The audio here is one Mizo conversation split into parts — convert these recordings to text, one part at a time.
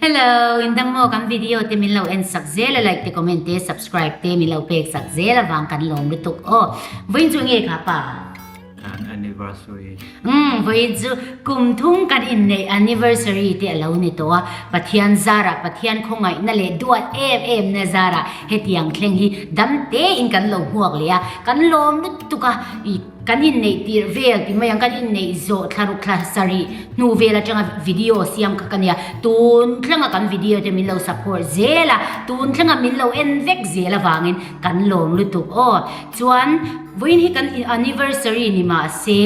Hello! In dang maw? Kan video te min lo en sak zel a, like te comment te subscribe te min lo pek sak zel a vang kan lawm lutuk aw. Vawiin chu nge kha pa? An anniversary. Umm, vawiin chu kum thum kan inneih anniversary te a lo ni tawh a, Pathian zarah, Pathian khawngaihna leh duat em emna zarah hetiang thleng hi dam tein kan lo hmuak leh a, kan lawm lutuk a, i. Kan inneih tirh vel ti mai ang, kan inneih zawh thla ruk thla sarih hnu vel atanga video siam kha ka nia. Tun thleng a kan video te min lo support zel a, tun thleng a min lo en vek zel avangin kan lawm lutuk aw. Chuan vawiin hi kan anniversary ni mah se,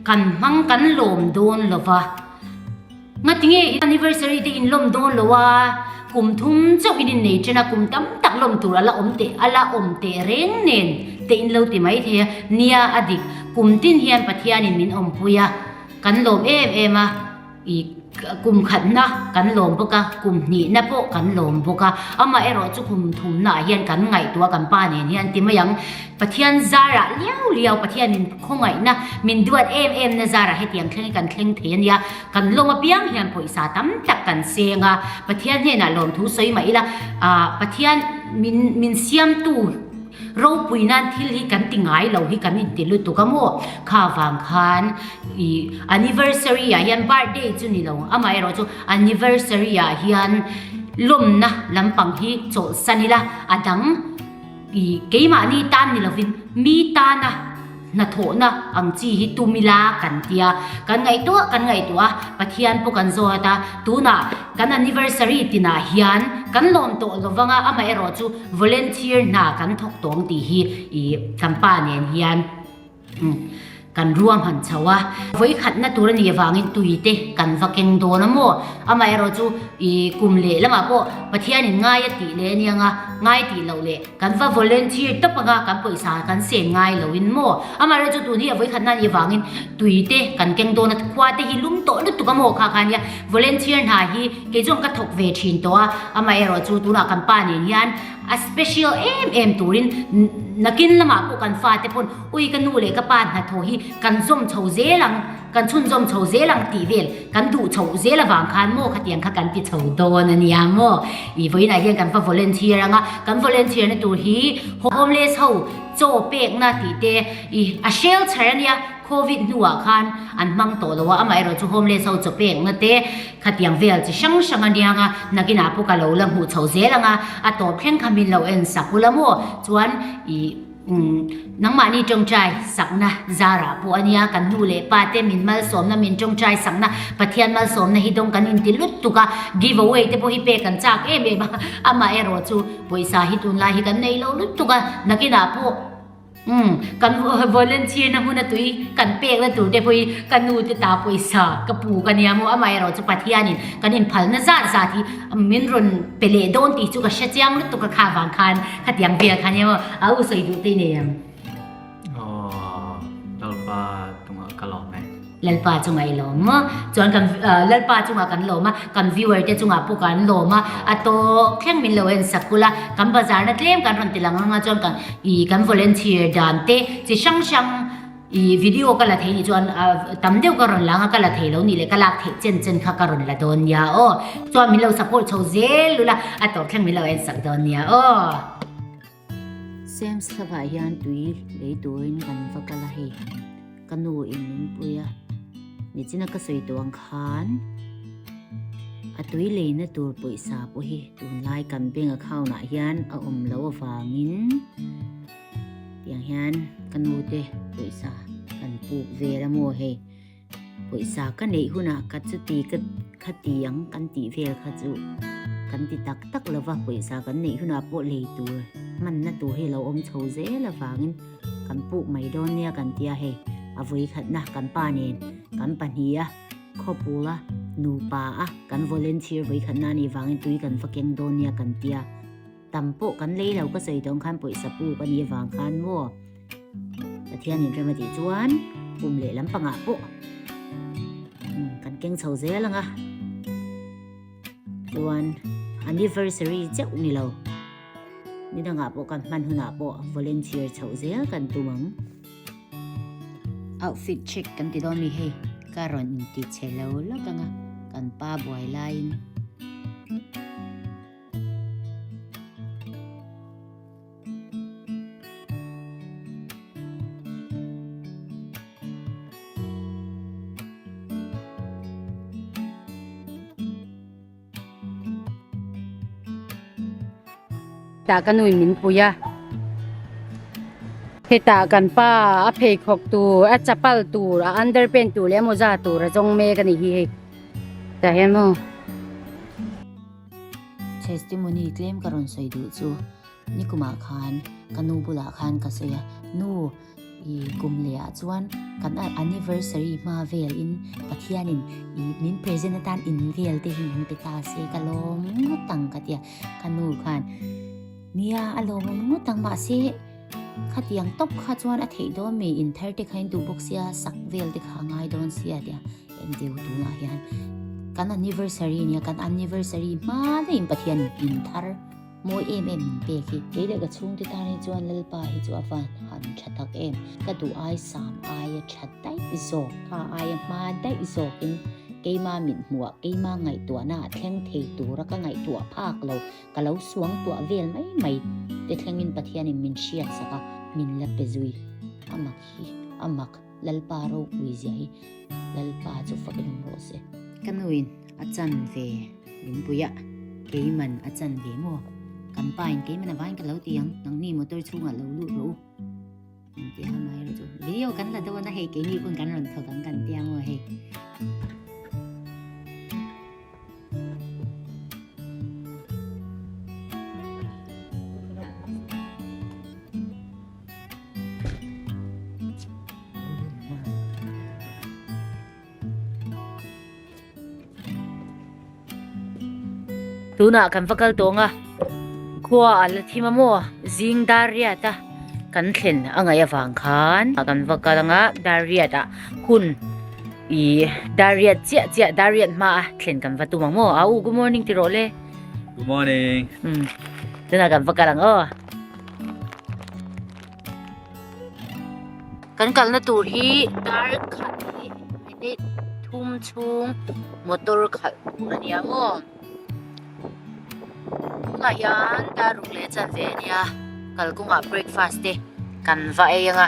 kan hmang kan lawm dawn lova. Nga tinge i anniversary te in lawm dawn lo a, kum thum chauh in innei chen a, kum tam tak lawm tur a la awm teh, a la awm teh reng nen te in lo ti mai thei a, nia a dik, kum tin hian Pathianin min awmpui a, kan lawm em em a, i kum khatna kan lawm bawk a, kum hnihna pawh kan lawm bawk a, amaherawh chu kum thumnaah hian kan ngaihtuah kan pa nen hian ti mai ang. Pathian zarah liau liau Pathianin khawngaihna min duat em emna zarah hetiang thleng hi kan thleng thei a nia, kan lawm apiang hian pawisa tam tak kan seng a, Pathian hnenah lawm thu sawi mah ila aah Pathian min min siamtu ropui nan thil hi kan ti ngai lo hi kan inti lutuk a maw kha vang khan ih anniversary ah hian birthday chu ni lo amaherawh chu anniversary ah hian lawmna lampang hi chawlhsan ila a dang I keimahni tan ni lovin mi tana hnathawhna ang chi hi tum ila kan ti a. Kan ngaihtuah kan ngaihtuah a, Pathian pawh kan zawt a. Tunah kan anniversary tinah hian kan lawm tawh lovanga amaherawhchu volunteer hna kan thawk tawng tih hi i kan pa nen hian Kan ruahman chho a, vawikhatna tur a nih avangin tui te kan va keng dawn a maw? Amaherawh chu i kum leh lamah pawh Pathianin ngai a tih leh aniang a, ngai tih loh leh kan va volunteer tawp anga kan pawisa kan sen ngai lo in maw? Amaherawh chu tun hi a vawikhatna a nih avangin tui te kan keng dawn a, khua te hi lum tawh lutuk a maw kha kha nia, volunteer hna hi kei zawng ka thawk ve thin tawh a, amaherawh chu tunah kan pa nen hian A special em em turin nakin lamah pawh kan fate pawn ui ka nu leh ka pa hna thaw hi kan zawm chho zel ang kan chhun zawm chho zel ang tih vel kan duh chho zel avang khan maw khatiang kha kan ti chho dawn a nia maw i vawiinah hian kan va volunteer ang a kan volunteer na tur hi homeless ho chaw pekna tih te i a hrel chher a nia. Covid hnuah khan an hmang tawh lo a, amaherawh chu homeless ho chaw pekna te khatiang vel chi hrang hrang anianga nakinah pawh ka lo la hmuh chho zel ang a, a tawp thleng kha min lo en sak ula maw chuan ih umm nangmahni tawngtai sakna zarah pawh ania kan nu leh pa te min malsawmna min tawngtai sakna Pathian malsawmna hi dawng kan inti lut tuk a, giveaway te pawh hi pek kan chak em em a, amaherawh chu pawisa hi tunlai hi kan nei lo lut tuk a, nakinah pawh. Umm, ka nu volunteer-na hun a tui kan pek na tur te pawhin ka nu te ta pawisa ka pu ka nia maw amah erawh chu Pathianin kan inphalna zat zat hi min rawn pe leh dawn tih chu ka hre chiang lutuk a kha vang khan khatiang vel kha nia maw a u sawi duh te nei ang. Aww, Lalpa tungah ka lawm e. Lalpa chunga i lawm maw? Chuan kan Lalpa chunga kan lawm a, kan viewer te chungah pawh kan lawm a, a tawk thleng min lo en sak kul a, kan bazar na tlem kan rawn ti lang anga chuan kan ih kan volunteer dan te chi hrang hrang ih video ka la thei nih chuan a tam deuh ka rawn la anga ka la thei lo nih leh ka lak thei chen chen kha ka rawn la dawn nia aw, chuan min lo support chho zel lul a, a tawk thleng min lo en sak dawn nia aw. Sems thlavah hian tui lei turin kan va kal a hei han ka nu in min pui a ni chin a ka sawi tawh ang khan a tui lei na tur pawisa pawh hi tun lai kan bank account ah hian a awm lo avangin tiang hian ka nu te pawisa kan puk vel a maw hei Pawisa ka neih hunah ka chuti ka kha ti ang kan tih vel kha chu kan ti tak tak lo va, pawisa kan neih hunah pawh lei tur hmanna tur hi lo awm chho zel avangin kan puh mai dawn nia kan tia hei a vawi khatna kan pa nen kan pahnih a khawpul a nupa a kan volunteer vawi khatna a nih vangin tui kan va keng dawn nia kan tia. Tam pawh kan lei lo ka sawi dawn khan pawisa pu ka nih avang khan maw Pathian in rem a tih chuan kum leh lampangah pawh kan keng chho zel anga chuan anniversary cheuh ni lo ni dangah pawh kan hman hunah pawh volunteer chho zel kan tum ang outfit check kan ti dawn mi hei ka rawn inti che lo lawt anga kan pa buai laiin Tah ka nuih min pui a. Hetah kan pa a pheikhawk tur, a chapal tur, a underpant tur leh emaw zat tur a zawng mek a ni hi hei. Tah hian maw. Testimony tlem ka rawn sawi duh chu nikuma khan ka nu bulah khan ka sawi a nu ih kum leh ah chuan kan anniversary hma vel in Pathian in ih min present atan in vel te hi min pe ta se ka lawm ngawt ang ka tia ka nu khan nia a lawm ang ngawt ang mah se khatiang tawp kha chuan a theih dawn mi in thar te kha in duh bawk sia sak vel te kha a ngai dawn sia tia Kan deu tunah hian kan anniversary nia kan anniversary hma na in pathian in thar mawi em em in pek hi kei leh ka chhung te tan hi chuan lalpa hi chu avan han tha tak em ka duh ai sam ai a tha dai zawk kha ai a hma dai zawk in keima min hmu a keima ngai tua na thleng thei tur a ka ngai tua phak lo ka lo suang tua vel mai mai te thleng in pathian in min hriat saka min la pe zui amak hi amak Lalpa ropui zia hi lalpa chu fak i rum rawh se. Ka nuin a chan ve Lunpuia keiman a chan ve maw? Kan pain keiman a vain ka lo ti ang, nang mi motor chhungah lo lut rawh u. Kan ti a amah erawh chu video kan la dawn a hei keini pawn kan rawn thawk ang kan ti ang aw hei. tuna kan va kal tawng a khua a la thim a maw zing dar riat a kan thlen a ngaih avang khan kan va kal ang a dar riat ah hun-- I dariat chiah chiah dariat hma a thlen kan va tum ang maw au good morning ti rawh le good morning um tuna kan va kal ang aw kan kalna tur hi dar khat hi ni thum chung motor khalh tur ania maw tuna hian dar ruk le chan ve ania kalkunga breakfast te kan va ei anga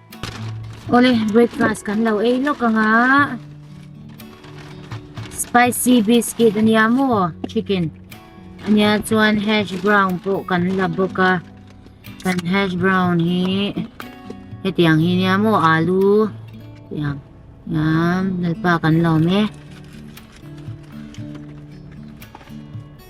Awle breakfast kan lo ei lawk anga spicy biscuit ania maw chicken ania chuan hash brown pawh kan la bawk a kan hash brown hi hetiang hi nia maw alu tiang yam lalpa kan lawm e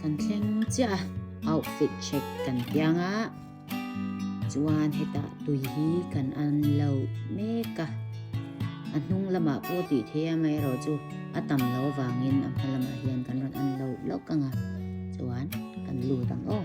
kan thleng chiah a outfit check kan piang a chuan heta tui hi kan an lo mek a a hnung lamah pawh tih thiam mai erawh chu a tam lo vangin a hma lamah hian kan rawn an lo lawk ang a chuan kan lut ang aw.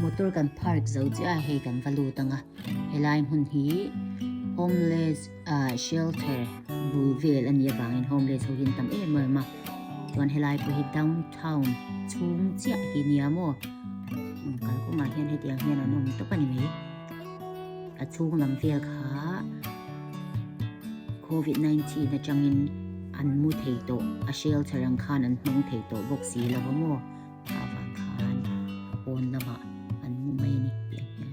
Motor kan park zo chiah a hei kan va lut ang a helai hmun hi homeless ah shelter bul vel a nih avangin homeless ho hi an tam em em a chuan helai pawh hi down -- town chhung chiah hi nia maw kalkawngah hian hetiang hian an awm tawp a ni mai a chhung lam vel kha covid 19 atangin an mu thei tawh a hrel chhe rang khan an hmang thei tawh bawk si lo a maw avang khan a pawn lamah an mu mai a ni tih ang hian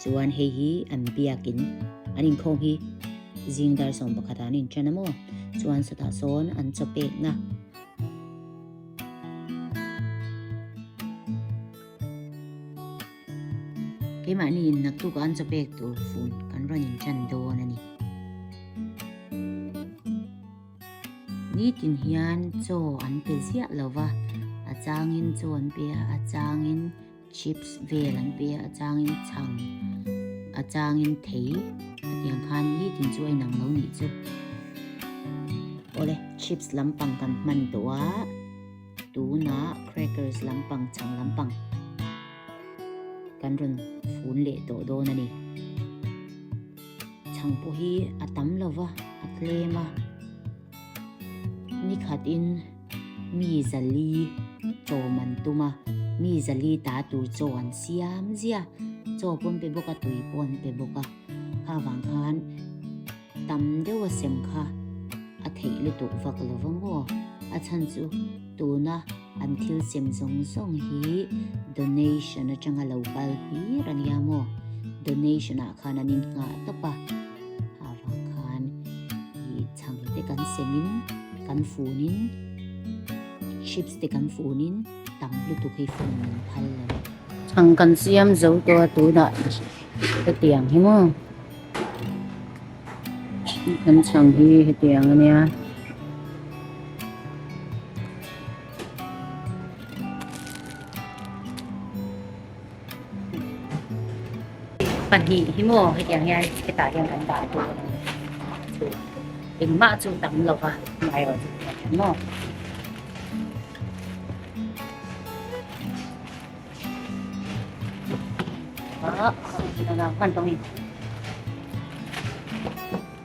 Chuan hei hi an biakin an inkhawm hi zing dar sawm pakhatah an inṭan a maw? Chuan sawtah sawn an chaw pek na. Keimahni in naktukah an chaw pek tur fun kan rawn inṭan dawn a ni. Nitin hian chaw an pe ziah lova, a changin chaw an pe a, a changin chips vel an pe a, a changin chhang, a changin thei hetiang khan nitin chu a inang lo nih chu. Awle, chips lampang kan hman tawh a, tunah crackers lampang, chhang lampang kan rawn fun leh tawh dawn a ni. Chhangpu hi a tam lo va, a tlem a. Ni khat in mi zali chawm an tum a, mi zali ta tur chaw an siam zia. Chaw pawh an pe bawk a, tui pawh an pe bawk a. Kha vang khan tam deuh a sem kha a theih lutuk vak lo va maw? A chhan chu tuna. An thil sem zawng zawng hi donation atanga lo kal hlir a nia maw? Donation ah khan an inngah tawp a. Avang khan i chhang te kan semin, kan funin, chips te kan funin tam lutuk hi fun min phal lo. Chhang kan siam zo tawh a tunah hetiang hi maw? Kan chhang hi hetiang a nia. Pahnih hi maw hetiang hian hetah hian kan dah tur a ni chu engmah chu tam lo va ngaihro chu hetiang hian maw ah hman tawngin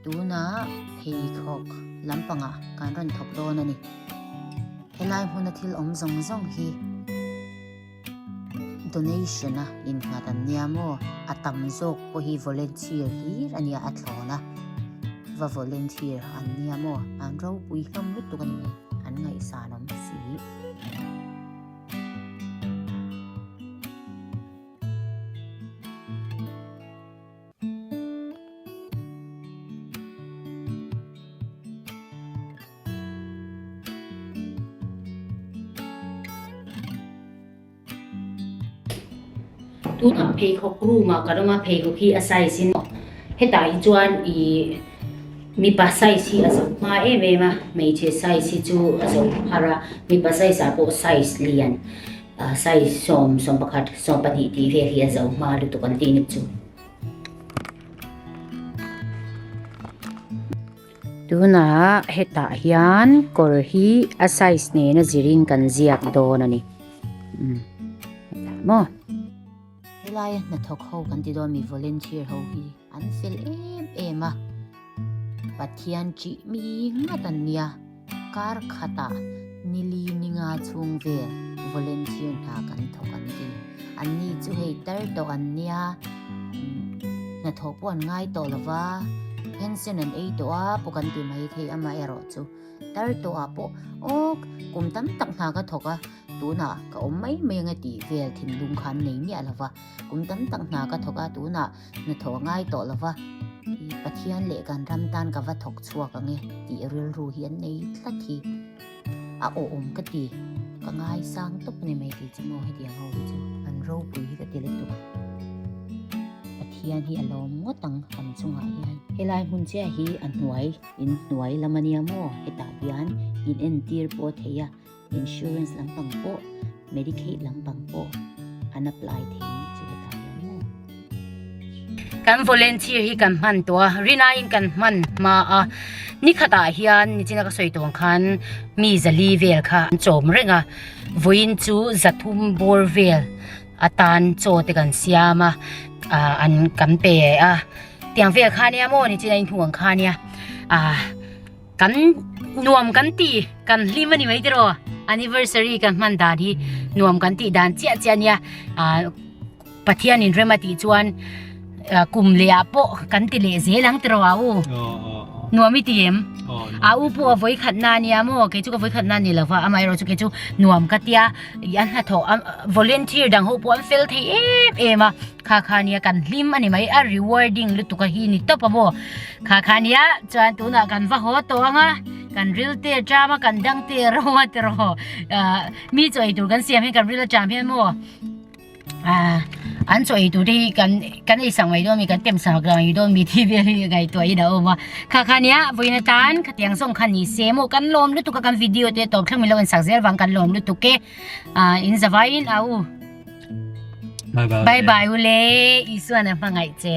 Tuna pheikhawk lampanga kan rawn thawk dawn a ni. Helai hmuna thil awm zawng zawng hi donation a innghat an nia maw, a tam zawk pawh hi volunteer hlir a nia a thlawn a, va volunteer an nia maw an ropui hlawm lutuk a ni hmel an ngaihsan awm si. Tunah pheikhawk room ah ka rawng a, pheikhawk hi a size hi nawh. Hetah hi chuan ih mipa size hi a zo nghal em em a, hmeichhe size hi chu a zo phar a, mipa size ah pawh size lian. Size sawm, sawm pakhat, sawm pahnih tih vel hi a zo hma lutuk an ti nik chu. Tunah hetah hian kawr hi a size nena zirin kan ziak dawn a ni. Hetah maw? Helai hnathawk ho kan ti dawn a ni, volunteer ho hi. an fel em em a pathian tih mi ngat an nia kar khata nili ninga chhung vel volunteer hna kan thawk an ti an ni chu hei tar tawh an nia hnathawh pawh an ngai tawh lova pension an ei tawh a pawh kan ti mai thei ama erawh chu tar tawh ah pawh aw kum tam tak hna ka thawk a tuna ka awm mai mai anga tih vel thinlung kha an nei miah lova kum tam tak hna ka thawk a tuna Hnu thaw ngai tawh lo va, i Pathian leh kan ram tan ka va thawk chhuak ang e tih rilru hi an nei tlat hi a awm ka ti, ka ngai sang tawp mai mai tih chu maw heti ang ho hi chu. An ropui hi ka ti lutuk, Pathian hi a lawm ngawt ang kan chungah hian. Helai hmun chiah hi a hnuai in hnuai lam a nia maw, hetah hian in entir pawh a thei a. Insurance lampang pawh Medicaid lampang pawh an apply thei ni chu ka ta hiam mai. Kan volunteer hi kan hman tawh a, Rina in kan hman hma a, ni khat ah hian ni china ka sawi tawn khan mi zali vel kha an chawm reng a, vawiin chu za thum bawr vel atan chaw te kan siam a, an kan pe a, tiang vel khan nia maw ni china in hnu ang khan nia. kan nuam kan ti kan hlim ani mai tiraw anniversary kan hman dan hi nuam kan ti dan chiah chiah nia pathian in rema ti chuan kum le a po kan ti le zel ang tiraw a u nuam i ti em a u pu a voi khat na nia mo ke chu ka voi khat na ni lova amai ro chu ke chu nuam ka tia i an hla tho volunteer dang ho po an fel thei em em a kha kha nia kan hlim ani mai a rewarding lutuk a hi ni tawp a maw Khakhania chuan tunah kan va haw tawh anga kan ril te a ṭam a kan dang te a rawng a tiraw mi chaw ei tur kan siam hian kan ril a ṭam hian maw an chaw ei tur te hi kan kan ei sak mai dawn ami kan tem sak lo ang i dawn ami tih vel hi a ngaihtuah in a awm a khakhania vawiin atan khatiang zawng kha ni se maw kan lawm lutuk a kan video te tawp thleng min lo en sak zel vang kan lawm lutuk e in zavaiin a u bye bye u le Isuan a hmangaih che